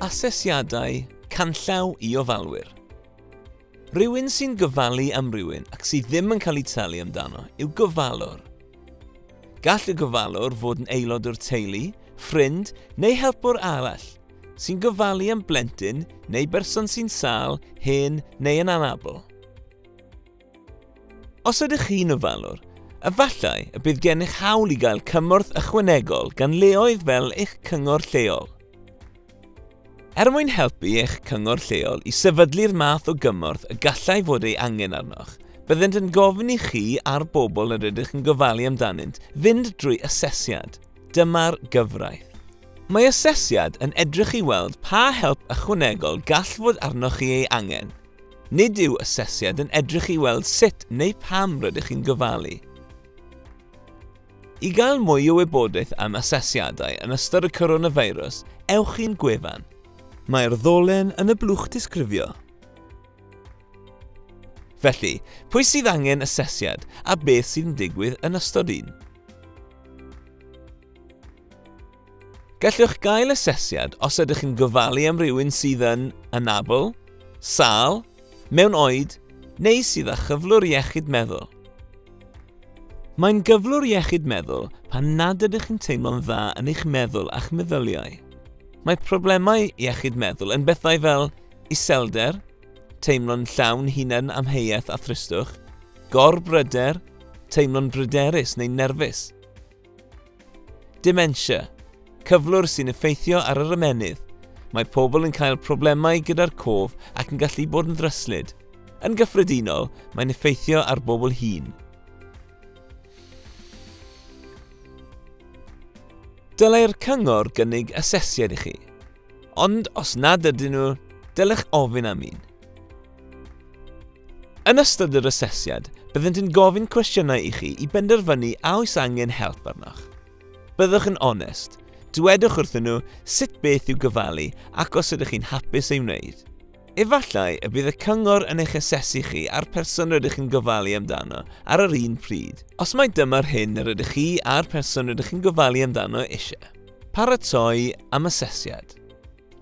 Asesiadau canllaw i ofalwyr. Rhywun sy'n gofalu am rywun ac sydd ddim yn cael ei talu amdano yw gofalwr. Gall y gofalwr fod yn aelod o'r teulu, ffrind neu helpwr arall, sy'n gofalu am blentyn neu berson sy'n sâl, hen neu yn anabl. Os ydych chi'n ofalwr, efallai y bydd gennych hawl i gael cymorth ychwanegol gan leoedd fel eich cyngor lleol. Er mwyn helpu eich cyngor lleol i sefydlu'r math o gymorth y gallai fod ei angen arnoch, byddent yn gofyn i chi a'r bobl yr ydych yn gofalu amdanynt fynd drwy asesiad. Dyma'r gyfraith. Mae asesiad yn edrych i weld pa help ychwanegol gall fod arnoch chi ei angen. Nid yw asesiad yn edrych i weld sut neu pam rydych chi'n gofalu. I gael mwy o wybodaeth am asesiadau yn ystod y coronafeirws, ewch i'n gwefan. Mae'r ddolen yn y blwch disgrifio. Felly, pwy sydd angen asesiad a beth sy'n digwydd yn ystod un? Gallwch gael asesiad os ydych yn gofalu am rywun sydd yn anabl, sâl, mewn oed neu sydd â chyflwr iechyd meddwl. Mae'n gyflwr iechyd meddwl pan nad ydych yn teimlo'n dda yn eich meddwl a'ch meddyliau. Mae problemau iechyd meddwl yn bethau fel iselder, Teimlo'n llawn hunan amheuaeth a thristwch. Gorbryder, teimlo'n bryderus neu nerfus. Dementia, cyflwr sy'n effeithio ar yr ymennydd. Mae pobl yn cael problemau gyda'r cof ac yn gallu bod yn ddryslyd. Yn gyffredinol, mae'n effeithio ar bobl hŷn. Dylai'r cyngor gynnig asesiad i chi. Ond os nad ydyn nhw, dylech ofyn am un. Yn ystod yr asesiad, byddent yn gofyn cwestiynau i chi i benderfynu a oes angen help arnoch. Byddwch yn onest. Dwedwch wrthyn nhw sut beth i'w gofalu ac os ydych chi'n hapus ei wneud. Efallai y bydd y cyngor yn eich asesu chi a'r person rydych yn gofalu amdano ar yr un pryd, os mai dyma'r hyn yr ydych chi a'r person rydych yn gofalu amdano eisiau. Paratoi am asesiad.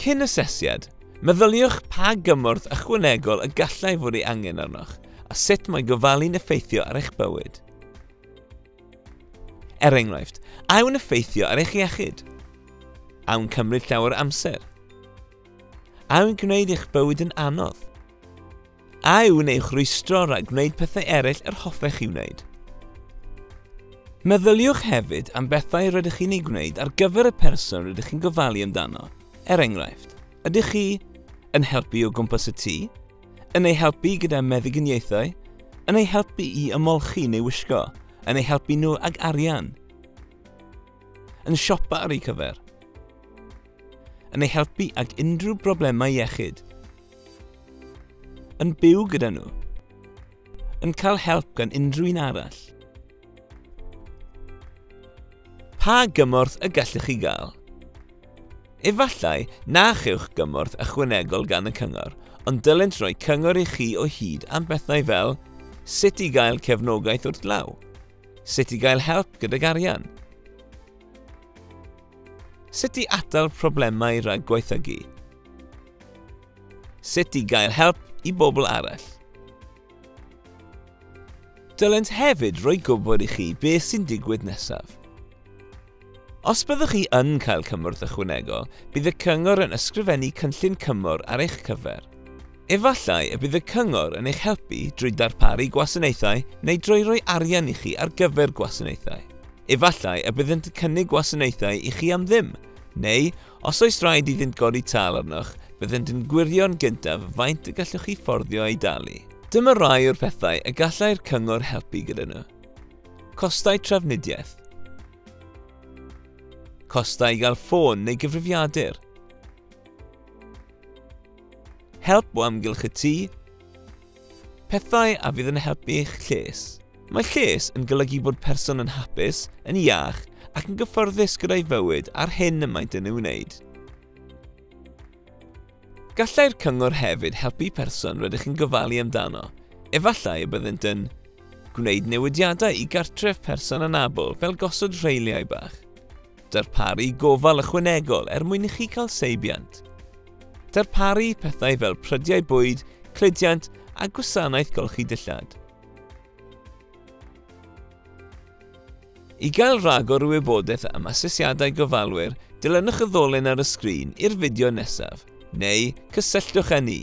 Cyn asesiad, meddyliwch pa gymorth ychwanegol y gallai fod ei angen arnoch a sut mae gofalu'n effeithio ar eich bywyd. Er enghraifft, a yw'n effeithio ar eich iechyd? A yw'n cymryd llawer amser? A yw'n gwneud eich bywyd yn anodd? A yw'n eich rwystro rhag gwneud pethau eraill yr hoffech chi wneud? Meddyliwch hefyd am bethau rydych chi'n ei gwneud ar gyfer y person rydych chi'n gofalu amdano. Er enghraifft, ydych chi yn helpu o gwmpas y tŷ, yn ei helpu gyda meddyginiaethau, yn ei helpu i ymolchi neu wisgo, yn ei helpu nhw ag arian, yn siopa ar eu cyfer, yn ei helpu ag unrhyw broblemau iechyd, Yn byw gyda nhw. Yn cael help gan unrhyw un arall. Pa gymorth y gallwch chi gael? Efallai na chewch gymorth ychwanegol gan y cyngor, ond dylent roi cyngor i chi o hyd am bethau fel sut i gael cefnogaeth wrth law, sut i gael help gydag arian, Sut i atal problemau rhag gwaethygu? Sut i gael help i bobl arall. Dylent hefyd roi gwybod i chi beth sy'n digwydd nesaf. Os byddwch chi yn cael cymorth ychwanegol, bydd y cyngor yn ysgrifennu cynllun cymorth ar eich cyfer. Efallai y bydd y cyngor yn eich helpu drwy darparu gwasanaethau neu drwy roi arian i chi ar gyfer gwasanaethau. Efallai y byddant yn cynnig gwasanaethau i chi am ddim, neu Os oes rhaid iddynt godi tâl arnoch, byddent yn gwirio'n gyntaf faint y gallwch chi fforddio ei dalu. Dyma rai o'r pethau y gallai'r cyngor helpu gyda nhw. Costau trafnidiaeth. Costau i gael ffôn neu gyfrifiadur. Help o amgylch y tŷ. Pethau a fydd yn helpu eich lles. Mae lles yn golygu bod person yn hapus, yn iach ac yn gyfforddus gyda'i fywyd a'r hyn y maent yn ei wneud. Gallai'r cyngor hefyd helpu person rydych chi'n gofalu amdano. Efallai y byddent yn gwneud newidiadau i gartref person anabl fel gosod rheiliau bach. Darparu gofal ychwanegol er mwyn i chi cael seibiant. Darparu pethau fel prydiau bwyd, cludiant a gwasanaeth golchi dillad. I gael rhagor o wybodaeth am asesiadau gofalwyr, dilynwch y ddolen ar y sgrin i'r fideo nesaf, neu cysylltwch â ni.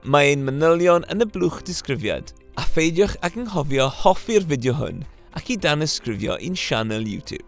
Mae ein manylion yn y blwch disgrifiad, a pheidiwch ag anghofio hoffi'r fideo hwn ac i danysgrifio i'n sianel YouTube.